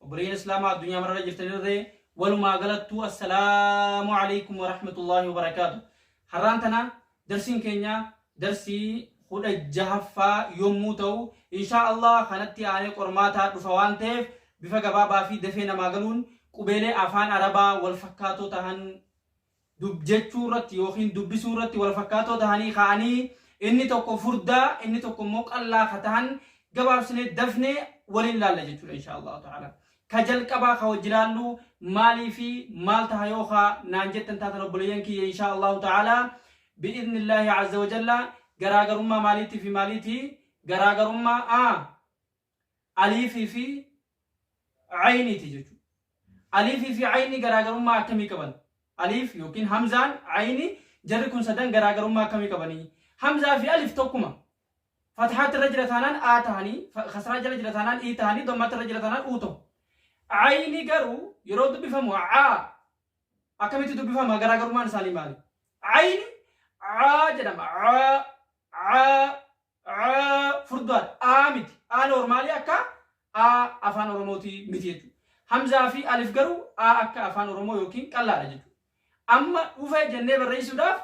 Obboleeyyan Islaamaa addunyaa mararra jirtanirree walumaa galattuu assalaamu alaikum wa rahmatullaahi wa barakaatu. Har'aan tana darsiin keenya darsii kudha jahaffaa yommuu ta'u inshaa Allah kanatti aanee qormaataa dhufa waan ta'eef bifa gabaabaa fi dafee namaa galuun qubeelee afaan Arabaa wal fakkaatoo tahan dubjechuurratti yookiin dubbisuurratti wal fakkaatoo tahanii kaa'anii inni tokko furdaa inni tokko immoo qallaa ka tahan gabaabsinee dafnee waliin laalla jechuudha insha allahu ta'ala ka jalqabaa ka wajji laallu maalii fi maal taha yoo ka naan jettan taatan obboleeyyan kiyya insha allahu ta'ala bi'izni illaahi azza wa jalla garaagarummaa maaliitii fi maaliitii garaagarummaa a aliifii fi ayniiti jechuudha. Aliifii fi ayni garaagarummaa akkamii qaban? Aliif yookiin hamzaan ayni jarri kun sadan garaagarummaa akkamii qabanii? Hamzaa fi alif tokkuma. Fathaatti irra jira taanaan A tahanii, fa- kasraa jala jira taanaan I tahanii, dommaatti irra jira taanaan U tahu. Ayni garuu yeroo dubbifamu A akkamitti dubbifama garaagarummaan isaanii maali? Ayni A jedhama. A, A, Aa, furdaadha. Aa miti. Aa noormaalii akka aa afaan oromootii miti jechuudha. Hamzaa fi alif garuu aa akka afaan oromoo yookiin qallaadha jechuudha. Amma dhufe jennee barreessuudhaaf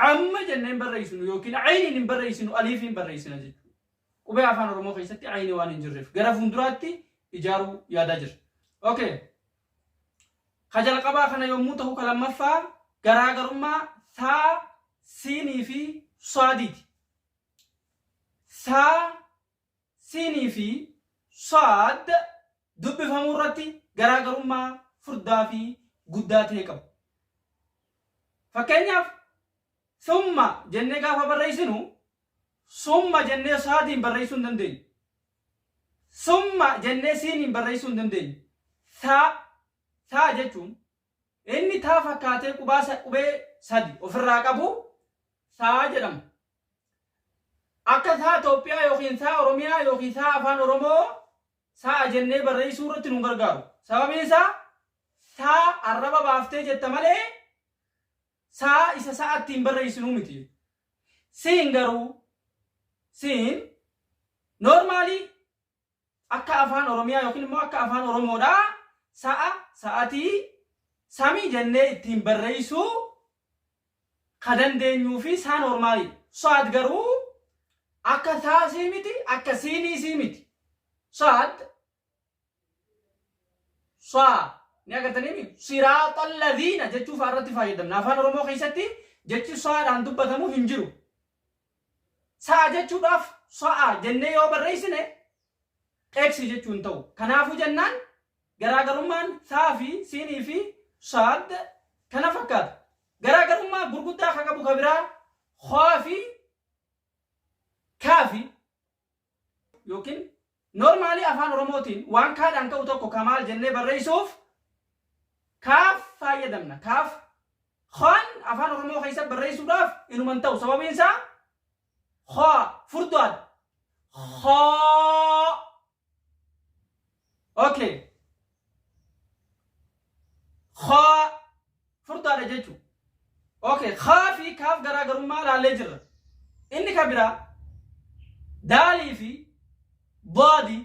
amma jennee hin barreessinu yookiin ayiniin hin barreessinu aliifiin barreessina jechuudha. Qubee afaan oromoo keessatti ayinii waan hin jirreef gara fuulduraatti ijaaruu yaadaa jirra. Okay. Ka jalqabaa kana yommuu tahu ka lammaffaa garaagarummaa thaa, siinii fi saadiiti. Thaa, siinii fi saad dubbifamuu irratti garaagarummaa furdaa fi guddaa ta'e qabu. Fakkeenyaaf thumma jennee gaafa barreessinu summa jennee saadiin barreessuu hin dandeenyu. Summa jennee siiniin barreessuu hin dandeenyu. Thaa, thaa jechuun inni taa fakkaatee qubaa sa, qubee sadi ofirraa qabu thaa jedhama. Akka thaa Itoophiyaa yookiin thaa Oromiyaa yookiin thaa Afaan Oromoo sa'a jennee barreessuu irratti nun gargaaru. Sababiin isaa thaa arraba baaftee jetta malee Sa'a isa sa'a ittiin barreessinuu miti. Siin garuu siin normally akka afaan Oromiyaa yookiin immoo akka afaan Oromoodhaa sa'a, sa'atii, samii jennee ittiin barreessuu ka dandeenyuu fi saa normally. Saat garuu akka taasii miti, akka siiniisii miti. Saat Saa ni agartaniimi siraaxa laziina jechuu fa'aa irratti fayyadamna. Afaan Oromoo keessatti jechi saadhaan dubbatamu hin jiru. Sa'a jechuudhaaf sa'a jennee yoo barreessine X jechuu hin ta'u. Kanaafuu jennaan garaagarummaan saa fi siinii fi saad kana fakkaata. Garaagarummaa gurguddaa kan qabu kan biraa haa fi kaa fi yookiin normaalii afaan oromootiin waan kaadhaan ka'u tokko ka maal jennee barreessuuf kaaf faayyadamna kaaf kaan afaan oromoo keessa barreessuudhaaf inuman ta'u sababiin isaa haa furdaadha haa ok haa furdaadha jechuun ok haa fi kaaf garaagarummaa ilaallee jirra inni kan biraa daalii fi daadi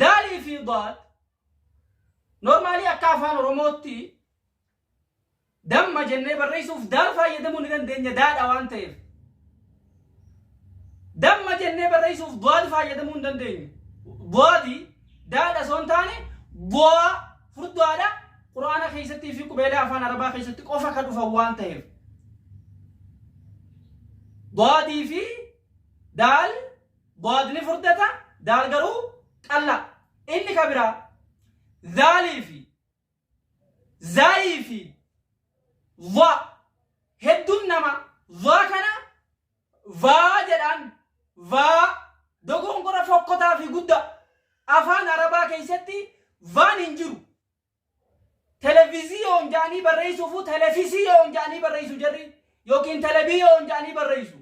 daalii fi daad normaalii akka afaan oromootti Damma jennee barreessuuf daal fayyadamuu ni dandeenya daadha waan ta'eef. Damma jennee barreessuuf boadi fayyadamuu hin dandeenyu. Boadi daadha osoo hin taane boa furdaadha. Quraana keessattii fi qubeelee afaan Arabaa keessatti qofa kan dhufan waan ta'eef. Boadii fi daal boad ni furdata daal garuu qalla. Inni kan biraa daalii fi zaayii fi va hedduun nama va kana vaa jedhaan vaa dogongora fokkotaa fi guddaa afaan arabaa keessatti vaan hin jiru televiziyoon jedhanii barreessuufu telefisiyoon jedhanii barreessu jarri yookiin telebiyoon jedhanii barreessu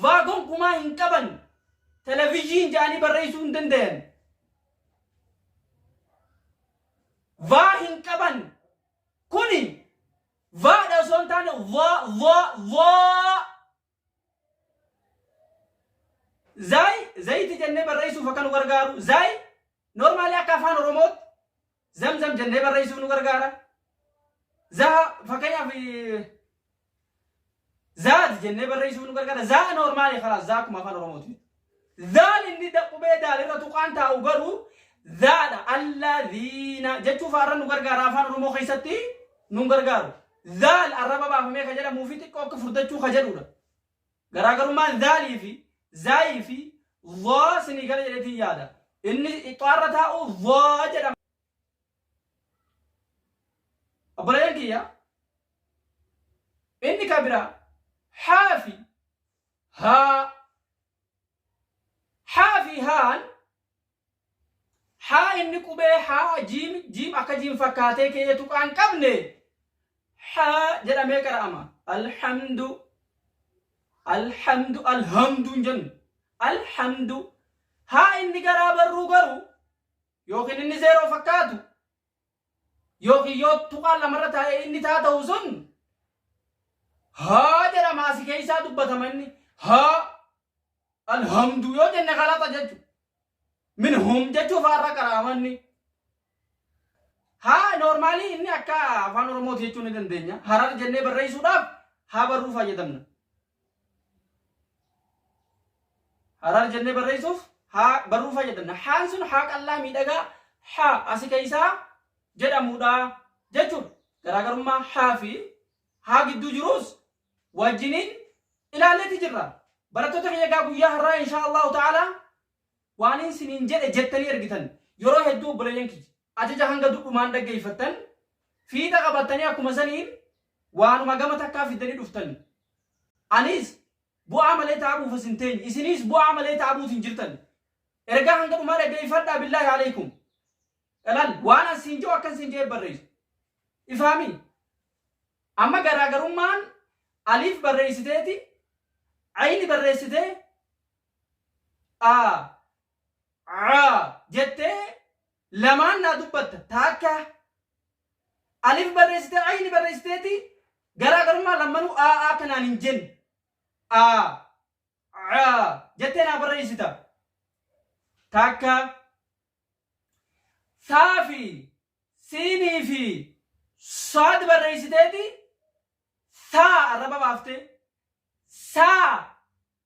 vaa gonkumaa hin qaban televiziyiin jedhanii barreessuu hin danda'an Va hin qaban. Kuni va dha osoo hin taane va va va. Zaayi zayiti jennee barreessuuf akka nu gargaaru. Zaayi normaali akka afaan Oromootti zamzam jennee barreessuuf nu gargaara. Zaha fakkeenyaaf Zaad jennee barreessuuf nu gargaara. Zaa noormaali karaa zaa akkuma afaan Oromooti. Zaal inni qubee daal irra tuqaan taa'u garuu zaadha. Allaziina jechuu faarra nu gargaara afaan Oromoo keessatti nu gargaaru. Zaal arraba baafamee ka jedhamuu fi xiqqoo akka furdachuu ka jedhudha. Garaagarummaan zaalii fi zaayii fi zaa sinii gala jedhetiin yaada. Inni ixxaarra taa'u zaa jedhama. Obboleeyyan kiyya inni ka biraa haa fi haa haa fi haan haa inni qubee haa jiim jiim akka jiim fakkaatee ka'ee tuqaa hin qabne haa jedhamee qara'ama alhamdu alhamdu alhamdu hin jennu alhamdu haa inni garaa barruu garuu yookiin inni zeeroo fakkaatu yookiin yoo tuqaan lamarra taa'ee inni taa ta'u sun haa jedhama asi keessaa dubbatama inni haa alhamdu yoo jenne galaxa jechu min hum jechuu faarra qaraamanni haa noormaalii inni akka afaan oromooti jechuu ni dandeenya harar jennee barreessuudhaaf haa barruu fayyadamna Haraar jennee barreessuuf haa barruu fayyadamna. Haan sun haa qal'aa miidhagaa haa asi keessaa jedhamudha jechuudha. Garaagarummaa haa fi haa gidduu jiruus wajjiniin ilaalleeti jirra. Barattoota kiyya egaa guyyaa har'aa inshaa Allahu ta'ala Waanin siniin jedhe jettanii ergitan. Yeroo hedduu obboleeyyan kiyya. Ajaja hanga dudhumaan dhaggeeyfattan, fiixa qabattanii akkuma saniin waanuma gama takkaa fiddanii dhuftan. Anis bu'aa malee taabuuf as hin teenye. Isiniis bu'aa malee taabuut hin jirtan. Ergaa hanga dhumaa dhaggeeyfadhaa billaahi aleeykum. Ilal waan an siin je'u akkan siin je'ee barreeysa. Ifaamii? Amma garaagarummaan aliif barreeysiteeti, ayni barreessitee, a a jettee lamaan naa dubbatta taakka alif barreessitee ayni barreessiteeti garaagarummaa lammanuu a a kanaan hin jenne a a jettee naa barreessita taakka saa fi siinii fi saad barreessiteeti saa arraba baaftee saa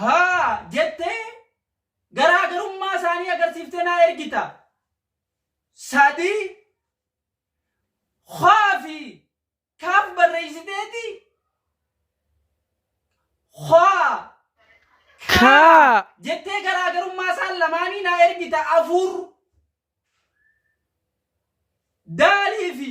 haa jettee garaa garummaa isaanii agarsiiftee naa ergita. Sadii haa fi kaaf barreessiteeti haa kaa Kaa. jettee garaa garummaa isaan lamaanii naa ergita afur daalii fi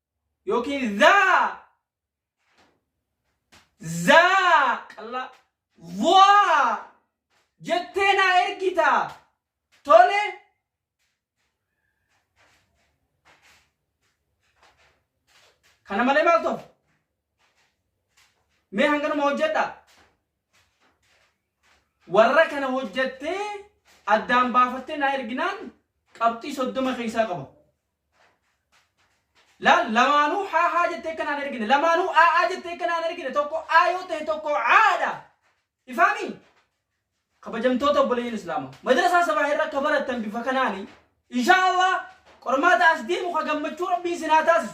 yookiin zaa zaa qallaa waa jettee naa ergita tole kana malee maal ta'u mee hanganuma hojjedha warra kana hojjettee addaan baafattee naa erginaan qabxii soddoma keessaa qaba Laal lamaanuu haa haa jettee akka naan ergine lamaanuu aa aa jettee akka naan ergine tokko aa yoo ta'e tokko aadha. Ifaami kabajamtoota obboleeyyiin Islaama madrasaa sabaa irra akka barattan bifa kanaani inshaa Allah qormaata as deemu ka gammachuu rabbii isin haa taasisu.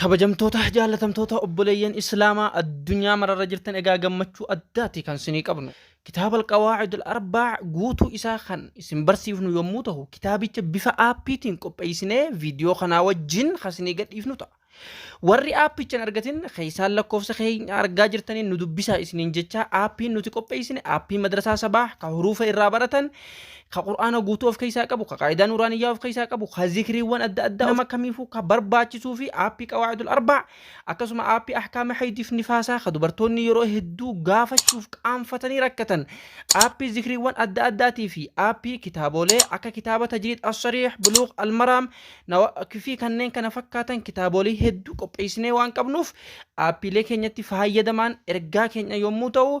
Kabajamtoota jaallatamtoota obboleeyyan Islaamaa addunyaa mararra jirtan egaa gammachuu addaati kan isinii qabnu. Kitaaba Alqawaa'idul Arbaa guutuu isaa kan isin barsiifnu yommuu ta'u, kitaabicha bifa aappiitiin qopheessinee viidiyoo kanaa wajjin kan isinii gadhiifnu ta'a. Warri aappicha hin argatin keessaan lakkoofsa keenya argaa jirtaniin nu dubbisaa isiniin jechaa aappiin nuti qopheessine aappii madrasaa sabaa kan huruufa irraa baratan ka qur'aana guutuu of keessaa qabu ka qaayidaa nuuraaniyyaa of keessaa qabu ka zikriiwwan adda addaa nama kamiifuu ka barbaachisuu fi aappii qawaa'idul arbaa akkasuma aappii ahkaama haydiif nifaasaa ka dubartoonni yeroo hedduu gaafachuuf qaanfatanii rakkatan aappii zikriiwwan adda addaatii fi aappii kitaabolee akka kitaaba tajriid assariix buluuq almaraam fi kanneen kana fakkaatan kitaabolee hedduu qopheessinee waan qabnuuf aappiilee keenyatti fayyadamaan ergaa keenya yommuu ta'u